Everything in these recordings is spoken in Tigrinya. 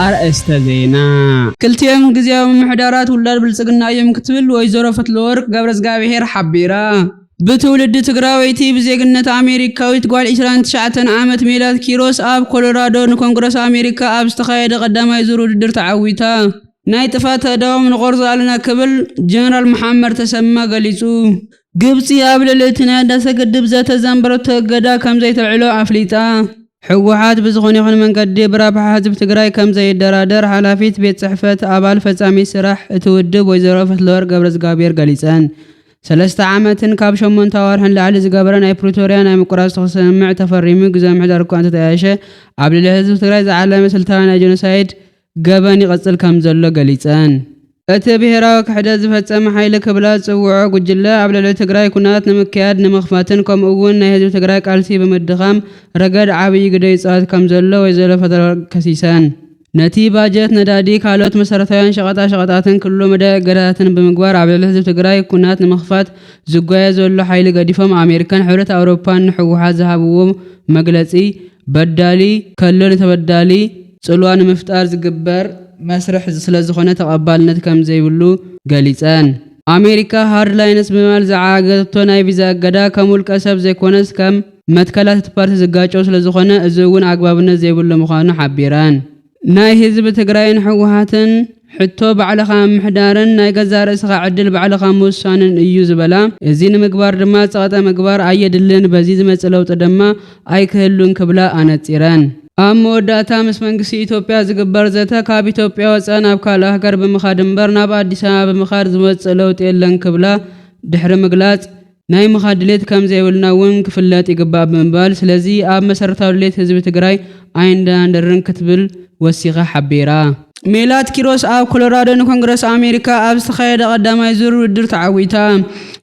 ኣርእስተ ዜና። ክልቲኦም ግዝያዊ ምምሕዳራት ውላድ ብልፅግና እዮም ክትብል ወይዘሮ ፈትለወርቅ ገብረዝጋብሄር ሓቢራ። ብትውልዲ ትግራወይቲ ብዜግነት ኣሜሪካዊት ጓል 29 ዓመት ሜላት ኪሮስ ኣብ ኮሎራዶ ንኮንግረስ ኣሜሪካ ኣብ ዝተኻየደ ቀዳማይ ዙር ውድድር ተዓዊታ። ናይ ጥፍኣት ኣእዳዎም ንቖርጾ ኣለና ክብል ጀነራል መሓመድ ተሰማ ገሊጹ። ግብጺ ኣብ ልዕሊ እቲ ናይ ህዳሰ ግድብ ዘተ ዘንበረቶ እገዳ ከምዘይተልዕሎ ኣፍሊጣ። ህወሓት ብዝኾነ ይኹን መንገዲ ብረብሓ ህዝቢ ትግራይ ከምዘይደራደር ሓላፊት ቤት ፅሕፈት ኣባል ፈፃሚት ስራሕ እቲ ውድብ ወይዘሮ ፈትለወርቅ ገብረዝጋቢሄር ገሊፀን። ሰለስተ ዓመትን ካብ ሸሞንተ ኣዋርሕን ላዕሊ ዝገበረ ናይ ፕሪቶርያ ናይ ምቁራፅ ተኹሲ ስምምዕ ተፈሪሙ ግዝያዊ ምምሕዳር እኳ እንተተጣየሸ ኣብ ልዕሊ ህዝቢ ትግራይ ዝዓለመ ስልታዊ ናይ ጀኖሳይድ ገበን ይቕጽል ከምዘሎ ገሊጸን። እቲ ብሄራዊ ክሕደት ዝፈጸመ ሓይሊ ክብላ ዝጽውዖ ጉጅለ ኣብ ልዕሊ ትግራይ ኩናት ንምክያድ፣ ንምኽፋትን ከምኡ እውን ናይ ህዝቢ ትግራይ ቃልሲ ብምድኻም ረገድ ዓብይ ግደ ይጻወት ከምዘሎ ወይዘሮ ፈትለወርቅ ከሲሰን። ነቲ ባጀት ነዳዲ፣ ካልኦት መሰረታውያን ሸቐጣሸቐጣትን ክልሉ መዳይ እገዳታትን ብምግባር ኣብ ልዕሊ ህዝቢ ትግራይ ኩናት ንምኽፋት ዝጓየ ዘሎ ሓይሊ ገዲፎም ኣሜሪካን ሕብረት ኣውሮፓን ንህወሓት ዝሃብዎ መግለጺ በዳሊ ከሎ ንተበዳሊ ፅልዋ ንምፍጣር ዝግበር መስርሕ ስለዝኾነ ተቐባልነት ከምዘይብሉ ገሊፀን። ኣሜሪካ ሃርድ ላይንስ ብምባል ዝዓጋገተቶ ናይ ቪዛ እገዳ ከም ውልቀ ሰብ ዘይኮነስ ከም መትከላት እቲ ፓርቲ ዝጋጮ ስለዝኾነ እዚ እውን ኣግባብነት ዘይብሉ ምዃኑ ሓቢረን። ናይ ህዝቢ ትግራይን ህወሓትን ሕቶ ባዕልኻ ምምሕዳርን ናይ ገዛእ ርእስኻ ዕድል ባዕልኻ ምውሳንን እዩ ዝበላ፣ እዚ ንምግባር ድማ ጸቕጠ ምግባር ኣየድልን፣ በዚ ዝመጽእ ለውጢ ድማ ኣይክህሉን ክብላ ኣነጺረን። ኣብ መወዳእታ ምስ መንግስቲ ኢትዮጵያ ዝግበር ዘተ ካብ ኢትዮጵያ ወጻኢ ናብ ካልእ ሃገር ብምኻድ እምበር ናብ ኣዲስ ኣበባ ብምኻድ ዝመጽእ ለውጢ የለን ክብላ ድሕሪ ምግላጽ፣ ናይ ምኻድ ድሌት ከምዘይብልና እውን ክፍለጥ ይግባእ ብምባል ስለዚ ኣብ መሰረታዊ ድሌት ህዝቢ ትግራይ ኣይንደናደርን ክትብል ወሲኻ ሓቢራ። ሜላት ኪሮስ ኣብ ኮሎራዶ ንኮንግረስ ኣሜሪካ ኣብ ዝተኻየደ ቀዳማይ ዙር ውድድር ተዓዊታ።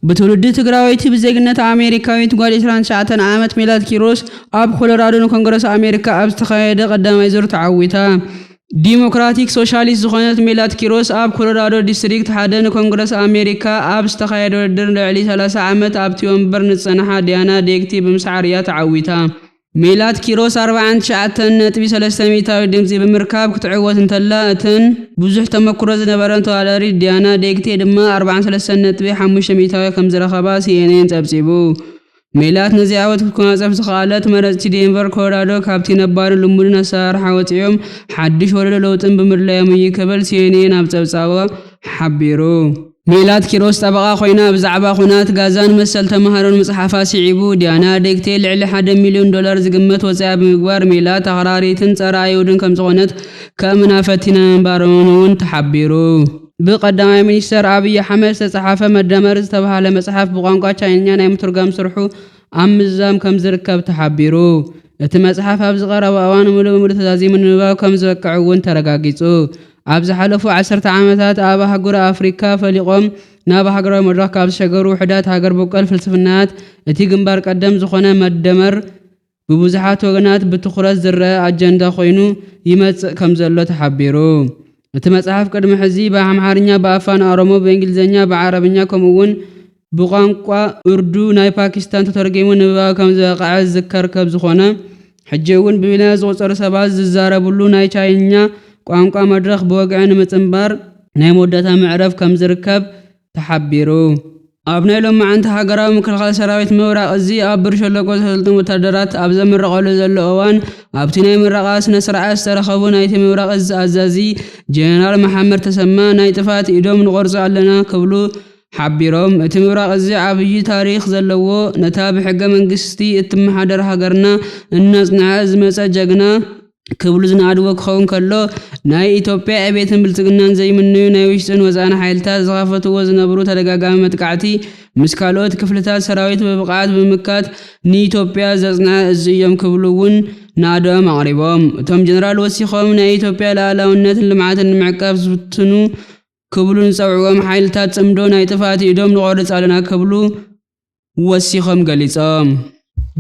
ብትውልዲ ትግራወይቲ ብዜግነት ኣሜሪካዊት ጓል ዕስራን ትሽዓተን ዓመት ሜላት ኪሮስ ኣብ ኮሎራዶ ንኮንግረስ ኣሜሪካ ኣብ ዝተኻየደ ቀዳማይ ዙር ተዓዊታ። ዲሞክራቲክ ሶሻሊስት ዝኾነት ሜላት ኪሮስ ኣብ ኮሎራዶ ዲስትሪክት ሓደ ንኮንግረስ ኣሜሪካ ኣብ ዝተኻየደ ውድድር ልዕሊ ሰላሳ ዓመት ኣብቲ ወንበር ንዝጸንሓ ዲያና ዴግቲ ብምስዓር እያ ተዓዊታ። ሜላት ኪሮስ ኣርብዓን ትሽዓተን ነጥቢ ሰለስተ ሚእታዊት ድምጺ ብምርካብ ክትዕወት እንተላ እተን ብዙሕ ተመኩሮ ዝነበረን ተወዳዳሪት ዲያና ዴግቲ ድማ ኣርብዓን ሰለስተን ነጥቢ ሓሙሽተ ሚእታዊት ከምዝረኸባ ሲኤንኤን ጸብጺቡ። ሜላት ነዚ ዓወት ክጓናጸፍ ዝኸኣለት፣ መረጽቲ ዴንቨር ኮሎራዶ ካብቲ ነባርን ልሙድን ኣሰራርሓ ወጺኦም ሓድሽ ወለዶ ለውጥን ብምድላዮም እዩ ክብል ሲኤንኤን ኣብ ጸብጻቡ ሓቢሩ። ሜላት ኪሮስ ጠበቓ ኮይና ብዛዕባ ኵናት ጋዛን መሰል ተማሃሮን ምጽሓፋ ስዒቡ፣ ዲያና ዴግቴ ልዕሊ ሓደ ሚልዮን ዶላር ዝግመት ወጻኢ ብምግባር ሜላት ኣኽራሪትን ጸረ-ኣይሁድን ከምዝዀነት ከእምና ፈቲና ምንባሮምን'ውን ተሓቢሩ። ብቀዳማይ ሚኒስተር ኣብይ ኣሕመድ ዝተፅሓፈ መደመር ዝተብሃለ መፅሓፍ ብቋንቋ ቻይንኛ ናይ ምትርጓም ስርሑ ኣብ ምዝዛም ከምዝርከብ ተሓቢሩ። እቲ መፅሓፍ ኣብዚ ቀረባ እዋን ሙሉእ ብሙሉእ ተዛዚሙ ንምንባብ ከምዝበቅዕ እውን ተረጋጊፁ። ኣብ ዝሓለፉ ዓሰርተ ዓመታት ኣብ ኣህጉረ ኣፍሪካ ፈሊቆም ናብ ሃገራዊ መድረኽ ካብ ዝተሸጋገሩ ውሕዳት ሃገር በቆል ፍልስፍናታት እቲ ግንባር ቀደም ዝኾነ መደመር ብብዙሓት ወገናት ብትኹረት ዝረኣ ኣጀንዳ ኮይኑ ይመጽእ ከምዘሎ ተሓቢሩ። እቲ መጽሓፍ ቅድሚ ሕዚ ብኣምሓርኛ፣ ብኣፋን ኦሮሞ፣ ብእንግሊዝኛ፣ ብዓረብኛ ከምኡ'ውን ብቋንቋ ኡርዱ ናይ ፓኪስታን ተተርጒሙ ንንባብ ከምዝበቕዐ ዝዝከር ከብዝኾነ፣ ሕጂ'ውን ብሚልዮናት ዝቑጸሩ ሰባት ዝዛረብሉ ናይ ቻይንኛ ቋንቋ መድረኽ ብወግዒ ንምጽንባር ናይ መወዳእታ ምዕረፍ ከምዝርከብ ተሓቢሩ። ኣብ ናይ ሎማዕንቲ ሃገራዊ ምክልኻል ሰራዊት ምብራቕ እዚ ኣብ ብር ሸለቆ ዘሰልጥን ወታደራት ኣብ ዘምረቐሉ ዘሎ እዋን ኣብቲ ናይ ምረቓ ስነስርዓት ዝተረኸቡ ናይቲ ምብራቕ እዚ ኣዛዚ ጀነራል መሓመድ ተሰማ ናይ ጥፋት ኢዶም ንቖርፆ ኣለና ክብሉ ሓቢሮም እቲ ምብራቕ እዚ ዓብዪ ታሪኽ ዘለዎ ነታ ብሕገ መንግስቲ እትመሓደር ሃገርና እናፅንዐ ዝመፀ ጀግና ክብሉ ዝነኣድዎ ክኸውን ከሎ፣ ናይ ኢትዮጵያ ዕቤትን ብልጽግናን ዘይምነዩ ናይ ውሽጥን ወጻእን ሓይልታት ዝኸፈትዎ ዝነብሩ ተደጋጋሚ መጥቃዕቲ ምስ ካልኦት ክፍልታት ሰራዊት ብብቕዓት ብምምካት ንኢትዮጵያ ዘጽንዐ እዝ እዮም ክብሉ ውን ናእደኦም ኣቕሪቦም። እቶም ጀነራል ወሲኾም ናይ ኢትዮጵያ ልኣላውነትን ልምዓትን ንምዕቃብ ዝፍትኑ ክብሉ ንዝጸውዕዎም ሓይልታት ጽምዶ ናይ ጥፍኣት ኢዶም ንቖርጽ ኣለና ክብሉ ወሲኾም ገሊጾም።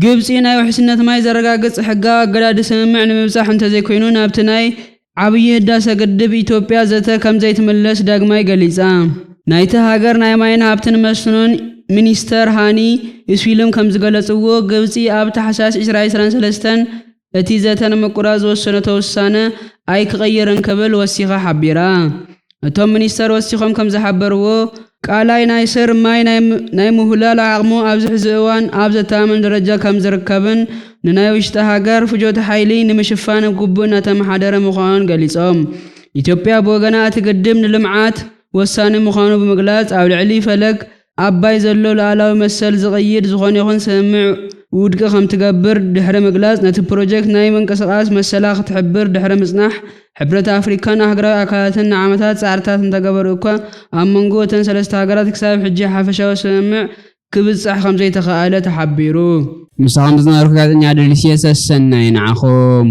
ግብጺ ናይ ውሕስነት ማይ ዘረጋግጽ ሕጋዊ ኣገዳዲ ስምምዕ ንምብጻሕ እንተዘይኮይኑ ናብቲ ናይ ዓብዪ ህዳሰ ግድብ ኢትዮጵያ ዘተ ከምዘይትምለስ ዳግማይ ገሊጻ። ናይቲ ሃገር ናይ ማይን ሃብትን መስኖን ሚኒስተር ሃኒ ኢስዊልም ከምዝገለጽዎ፣ ግብጺ ኣብ ታሕሳስ ዕስራ ዕስራን ሰለስተን እቲ ዘተ ንምቁራፅ ዝወሰነቶ ውሳነ ኣይክቕይርን ክብል ወሲኻ ሓቢራ። እቶም ሚኒስተር ወሲኾም ከምዝሓበርዎ፣ ቃላይ ናይ ስር ማይ ናይ ምውህላል ዓቕሙ ኣብዚ ሕዚ እዋን ኣብ ዘተኣማምን ደረጃ ከምዝርከብን ንናይ ውሽጢ ሃገር ፍጆታ ሓይሊ ንምሽፋን ብግቡእ እናተመሓደረ ምዃኑን ገሊፆም። ኢትዮጵያ ብወገና እቲ ግድብ ንልምዓት ወሳኒ ምዃኑ ብምግላፅ ኣብ ልዕሊ ፈለግ ኣባይ ዘሎ ሉኣላዊ መሰል ዝቕይድ ዝኾነ ይኹን ስምምዕ ውድቂ ከምትገብር ድሕሪ ምግላጽ፣ ነቲ ፕሮጀክት ናይ ምንቅስቓስ መሰላ ክትሕብር ድሕሪ ምጽናሕ፣ ሕብረት ኣፍሪካን ኣህግራዊ ኣካላትን ንዓመታት ጻዕርታት እንተገበሩ እኳ፣ ኣብ መንጎ እተን ሰለስተ ሃገራት ክሳብ ሕጂ ሓፈሻዊ ስምምዕ ክብጻሕ ከምዘይተኻእለ ተሓቢሩ። ምሳኹም ዝነበርኩ ጋዜጠኛ ደሊስየ ሰሰናዩ ንዓኹም።